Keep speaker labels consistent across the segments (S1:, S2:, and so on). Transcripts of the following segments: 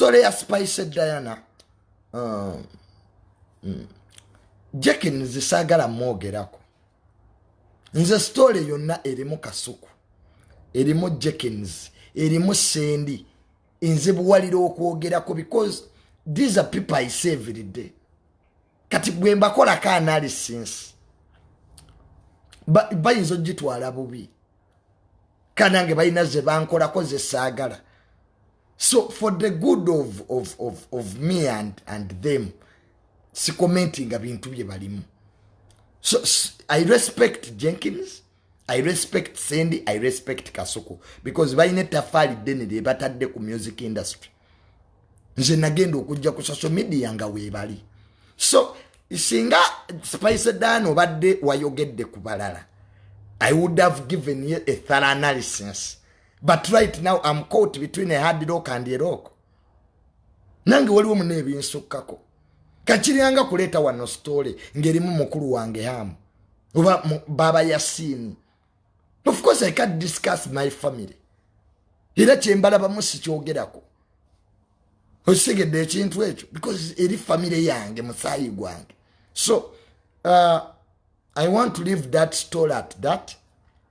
S1: story ya spice diana um, mm. jekin zisagala mwogerako nze story yonna erimu kasuku erimu jekins erimu sendi nzibuwalira okwogerako because these are people i say every day kati gwe mbakolako analysis bayinza ogitwala bubi kanange balina zebankolako zesaagala so for the good of, of, of, of me and, and them sikomentinga bintu bye balimu so i respect jenkins i respect sendi i respect kasuku because balina etafaali ddene lye batadde ku music industry nze nagenda okujja ku social media nga weebali so singa spice dan obadde wayogedde ku balala i would have given you a thorough analysis but right now am caught between a hard rock and a rock nange waliwo muna ebinsukkako kakiryanga kuleeta wano story ngerimu mukulu wange hamu oba baba yasiini of course i can discuss my family era kyembalabamu sikyogerako okitegedde ekintu ekyo because eri family yange musaayi gwange so uh, i want to leave that story at that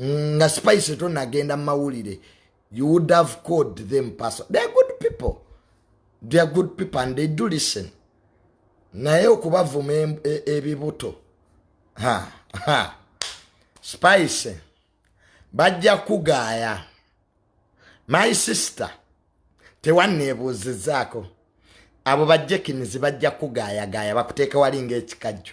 S1: nga spice tonagenda mumawulire you would have called them person they're good people they're good people and they do listen naye okubavuma e, ebibuto ha ha spice bajja kugaaya my sister tewanneebuuzizaako abo bajekinizi bajja kugaayagaaya bakuteeka wali ngaekikajjo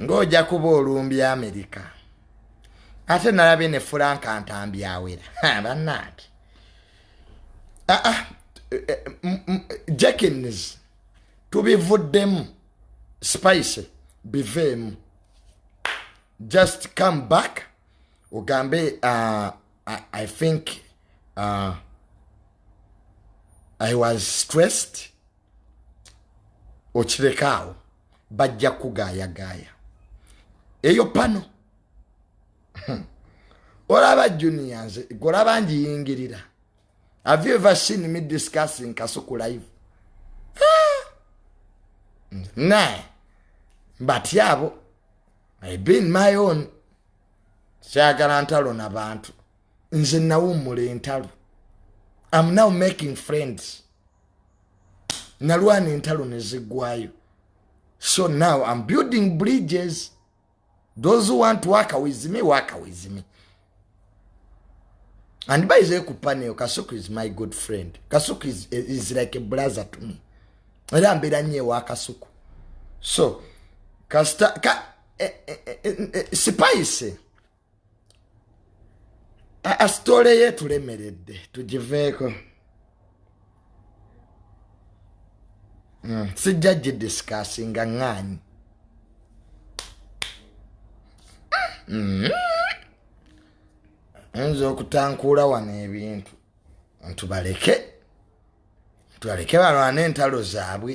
S1: ng'oja kuba olumbya amerika ate nalabye ne furanka ntambyawera bannange ah, ah, eh, eh, jackins tubivuddemu spice biveemu just come back ugambe uh, I, i think uh, i was stressed okirekaawo bajja kugaayagaaya eyo pano hmm. olaba junia nze golaba njiyingirira have you ever seen me discussing kasuku live ah! hmm. naye mbatya abo i been my own kyagala ntalo na bantu nze nawummula entalo am now making friends nalwana entalo neziggwayo so now am building bridges those who want to work with me work with me and by the kupaneyo kasuku is my good friend kasuku is, is like a brother to me era mbeera nyo ewa kasuku so kasita ka, eh, eh, eh, eh, eh, sipaise asitole ye tulemeredde tugiveeko hmm, sijja gidisikasi nga ŋŋaanyi hmm. oyinza okutankuula wano ebintu ntubaleke tubaleke balwana entalo zaabwe